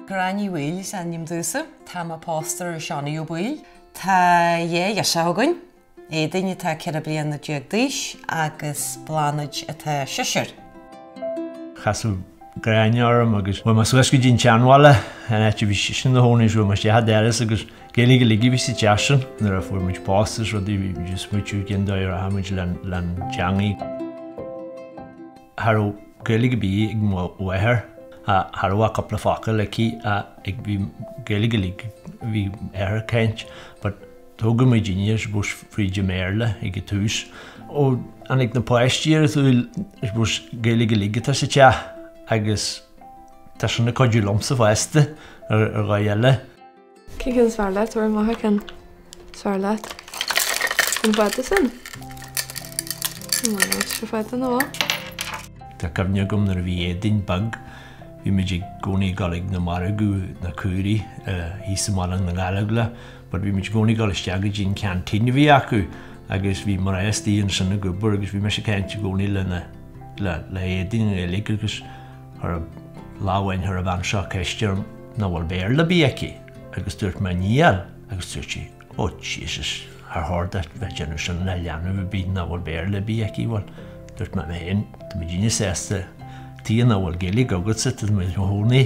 Gráinne Ní Bhaoill is ainm domhsa. Tá mé pósta ar Seánie Ó Baoill. Tá dhá ghirseach againn, Éadaoin atá ceithre bliana déag d'aois agus Bláthnaid atá seisear. Casadh Gráinne orm agus chuaigh mé suas go dtí an tseanbhaile, an áit a bhí sise ina chónaí, chuaigh mé isteach an doras agus Gaeilg uilig a bhí sa teach sin nuair a fuair muid pósta is rudaí, bhí muid ag smaoitiú cén dóigh a rachaidh muid leis an teangaidh. Cha raibh Gaeilg a' bith ag mo mháthair, cha raibh ach cúpla focal aici ach bhí Gaeilg uilig a bhí m'athair a' caint but tógadh muid aníos I suppose fríd a' mBéarla ag a' tús. Ó tháinig na páistí ar a' tsaol I suppose Gaeilg uilig atá sa teach agus tá sin ag cuidiú liomsa fosta ar dhóigh eile. Cén ceann is fearr leat? Ar an láthair ceann is fearr leat? An fada sin? An bhfuil an áit seo fada nó mall? Tá cuimhne agam nuair a bhí Éadaoin beag, bhí muid i gcónaí ag dul ag na margadh, na caoirigh, thíos i mBaile na nGallóglach but bhí muid i gcónaí ag dul isteach go dtí an ceantín a bhí acu agus bhí mná aosta ansin ag obair agus bhí mise ag caint i gcónaí le Éadaoin i nGaeilge agus Ar lá amháin chuir an bhean seo ceist orm nach bhfuil Béarla ar bith aici agus dúirt mé níl agus dúirt sí ó Jesus char chóir duit bheith ag déanamh sin le leanbh ar bith nach bhfuil Béarla ar bith aici bhuel dúirt mé féin tá muidinne sásta tuige nach bhfuil Gaeilge agatsa tá mé i mo chónaí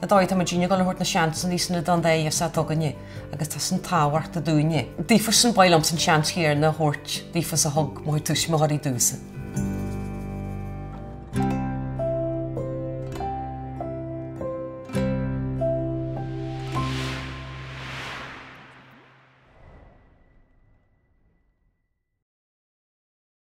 Ar ndóigh, tá muidinne ag dul a thabhairt na seansanna san iodáin daofa is atá againne agus tá san tábhachtach dúinne. Daofa san, ba mhaith liomsa an seans chéanna a thabhairt daofa is a thug mo chuid tuismitheoirí domhsa.